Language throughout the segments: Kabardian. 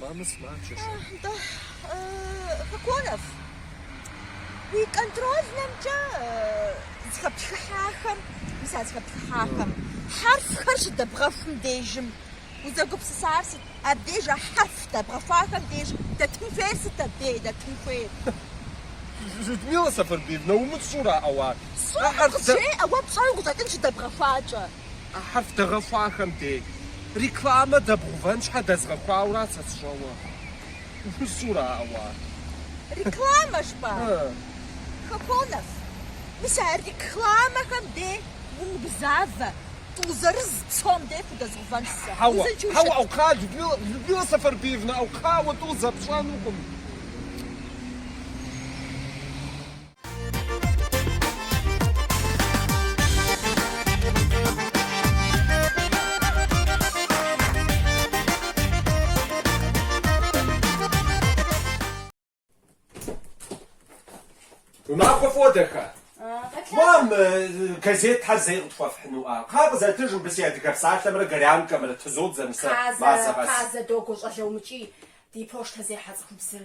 Мамэ сымаджэщ. Нтӏэ, Хоконов, уи контрольнэмкӏэ зыхэптхыхьахэм, мис а зыхэптхыхьахэм хьэрфхэр щыдэбгъэхум дежым узэгупсысар сыт? Абдеж а хьэрф дэбгъэхуахэм деж дэтын хуейр сыт абдей дэтын хуейр? Людмила Сэфэрбиевна, умыщӏэура ауэ? Сщӏэркъым, къызжеӏэ, уэ пщӏэуэ къыщӏэкӏын щыдэбгъэхуакӏэ. А хьэрф дэгъэхуахэм дей рекламэ дэбгъэувэн щхьэ дэзгъэхуауэра сэ сщӏэуэ? Умыщӏэура ауэ? Рекламэ жыпӏа? Хоконов, мис а рекламэхэм дей умыгузавэ, тӏу зырыз псом дей пхудэзгъэувэнщ сэ. Хьэуэ, хьэуэ, ӏэу, кхъа, Людмила, Людмила Сэфэрбиевна, ӏэу, кхъа, уэ тӏу зэпщӏэнукъым. Уи махуэ фӏыуэ, дахэ. Мам, газет тхьэ зэи къытхуэфхьынуӏа? Кхъа, къызэтыж мыбы си адыгэ псалъэмрэ горянкэмрэ тызодзэ мы сэ мазэ къэс. Тазэ, тазэ, догуэ щӏалэ, умыкӏий, ди почтэ зехьэ цӏыхубзыр.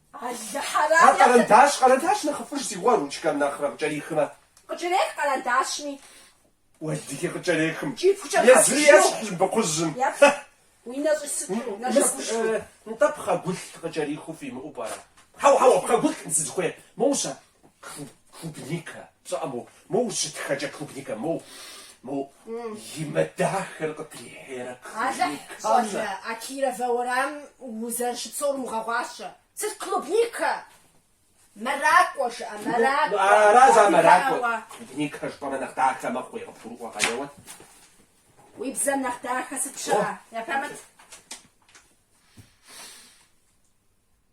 Алыхьэрам А япэ. къэрэндащ, къэрэндащ нэхъыфӏыж си гугъэ, ручкэм нэхърэ къыкӏэрихмэ. Къыкӏэрех къэрэндащми. Уэлэхьи къыкӏэрехым. Кӏипхукӏэ Езыри ещхь хьэпщыжу. быкъужьым. Епхъ, уи нэ щӏи сыту, нэ Мыс, жэгушхуи. э, нтӏэ пхъэгулъ къыкӏэрихыу фимыӏэу пӏэрэ? Хьэуэ, хьэуэ, пхъэгулъ сызыхуейр. Моущэ, Клубника, пщӏэӏэ, моу, моу ущытхэкӏэ клубника, моу, моу, и мэ дахэр къытрихьейрэ Алыхь, клубникам щӏалэ, нэ. а Кировэ уэрамым узэрыщыпсэур умыгъэгъуащэ. Сыт клубника? Мэракӏуэ жыӏэ, Ну, мэракӏуэ. ара зы а мэракӏуэр? Адыгэӏэуэ. Клубника жыпӏэмэ нэхъ дахэ мэхъуи? Къыбгурыӏуэкъэ уэ. Уи бзэм нэхъ дахэ сыт щыӏэ? Япамыт.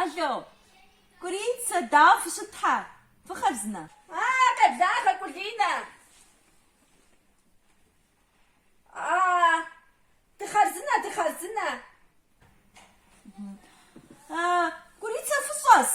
Алло, Кӏурицэ, дауэ фыщыт тхьэ? Фыхъарзынэ. А, къеблагъэ, Кулинэ. А, дыхъарзынэ, дыхъарзынэ. А, Кӏурицэ, фыщӏэс?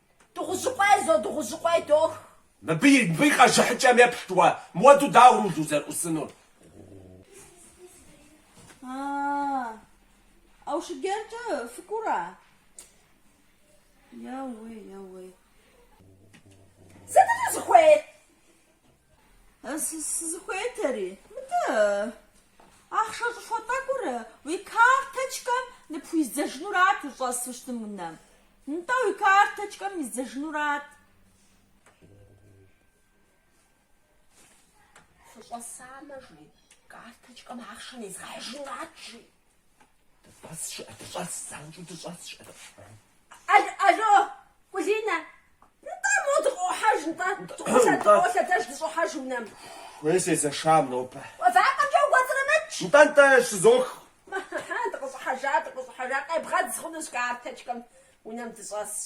Дыгъужьыкъуей зо дыгъужьыкъуей дох. Мыбы и мыбы и къэжыхьыкӏэм еплъыт уэ, муэдэу дауэ руль узэрыӏусынур? А-а-а! Аушыгеркӏэ фыкӏуэура? Еуей, еуей. Сытыт узыхуейр? Сызыхуейтэри, мыдэ, ахъшэ щӏыхуэ тӏэкӏур уи карточкэм ныпхуиздзэжынурат ущӏэсу щытым унэм. Нтӏэ, уи карточкэм издзэжынурат. Фыщӏэсамэ, жи, карточкэм ахъшэ низдзэжынурат, жи. Алло, Кулинэ, нтӏэ, мо дыкъохьэж, нтӏэ, дыкъолъэ, дыкъолъэдэж, дыщӏохьэж унэм. Уей, сезэшам нобэ. Вакъэмкӏэ укӏуэцӏрымыкӏ. Нтӏэ, нтӏэ, щызох. Хьэ, дыкъыщӏыхьэжа, дыкъыщӏыхьэжа, къебгъэдз хъунущ карточкэм, унэм дыщӏэсщ.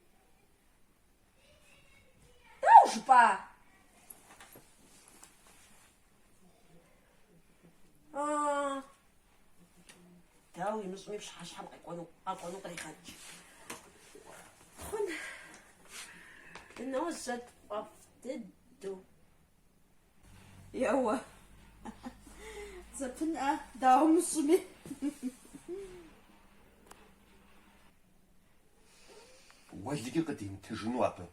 Дауэ жыпӏа? А. Дауэ имыщӏми пщыхьэщхьэм къэкӏуэну, къэкӏуэну къригъэкӏ. Хъун. Дыножьэ тфӏэфӏ дыдэу. Еуэ. Зэпынӏэ, дауэ мыщӏми. Уэлэхьи, къыдимытыжыну абы.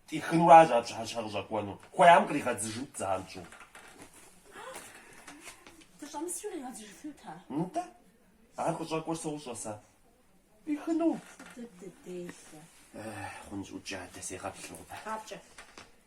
Тӏихынур аращ ар пщыхьэщхьэ къыщӏэкӏуэну. Хуеям къригъэдзыжынт занщӏэу. Дыщӏэмысуи къригъэдзыжыфынут ар. Нтӏэ. Ар къыщӏэкӏуэр сощӏэ сэ. Тӏихыну. Дыдэ делэ. Хъунщ, ӏукӏ адэ, сегъэплъ нобэ. Къапкӏэ.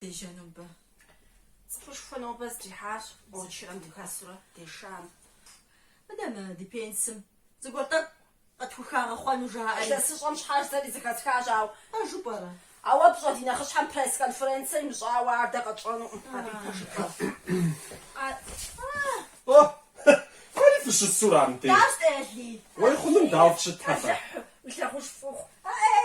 Дежьа нобэ. Цӏыхушхуэ нобэ здрихьащ, очерэм дыхэсурэ дешам. Мыдэ мы ди пенсым зыгуэр тӏэкӏу къытхухагъэхъуэну жаӏэри илъэсыщӏэм щхьэкӏэ. Сэри зыхэсхащ, ауэ. Пэжу пӏэрэ? Ауэ пщӏэ, ди нэхъыщхьэм пресс-конференцэ имыщӏауэ ар дэ къэтщӏэнукъым, абы и пэжыр фӏэфӏщ. Къа. О, ари фыщысура мыбдеж? Дащӏ, Эли? Уей хъуным дауэ фыщытхьэпэ? Бэлыхьу, уи лъагъуж фӏы ухъу. Э-э,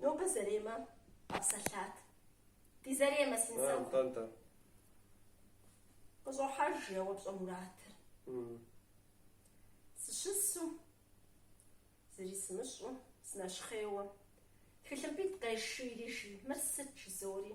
Нобэ Зэремэ къэпсэлъат. Ди Зэремэ, си нысэ. Нтӏэ, нтӏэ. Къыщӏохьэж еуэ, пщӏэ, Муратыр. Сыщысу, зыри сымыщӏу, сынэщхъейуэ, тхылъымпӏитӏ къешийри, жи, мыр сыт, жызори.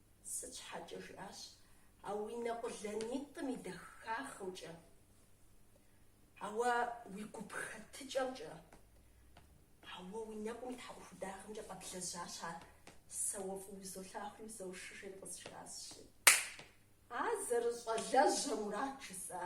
Сыт щхьэкӏэ жиӏащ, А уи нэ къулэнитӏым и дахагъымкӏэ, ауэ уи гуп хэтыкӏэмкӏэ, ауэ уи нэкӏум и тхьэӏухудагъэмкӏэ къэблэжьащ ар, сэ уэ фӏыуэ узолъагъуи узэуши, жери къызжиӏащи. А зэрыщӏалэжьэ Мурат, жысӏа?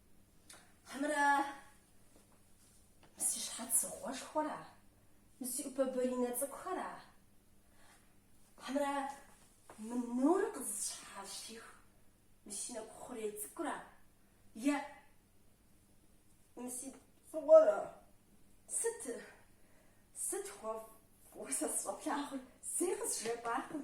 Хьэмэрэ мы си щхьэцыгъуэшхуэра? Мы си ӏупэ баринэ цӏыкӏухэра? Хьэмэрэ мы нур къызыщхьэщих мы си нэгу хъурей цӏыкӏура? Е мы си фӏыгъуэра? Сыт? Сыт уэ фӏыуэ сэ сыщӏэплъагъур? Зэи къызжепӏакъым.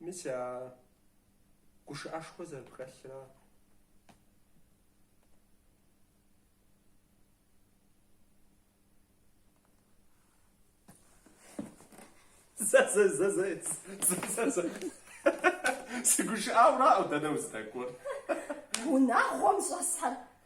Мис а гушыӏэшхуэ зэрыпхэлъра? Сыгушыӏауэра, ӏэу, дэнэ уздэкӏуэр? Унагъуэм щӏэсхэр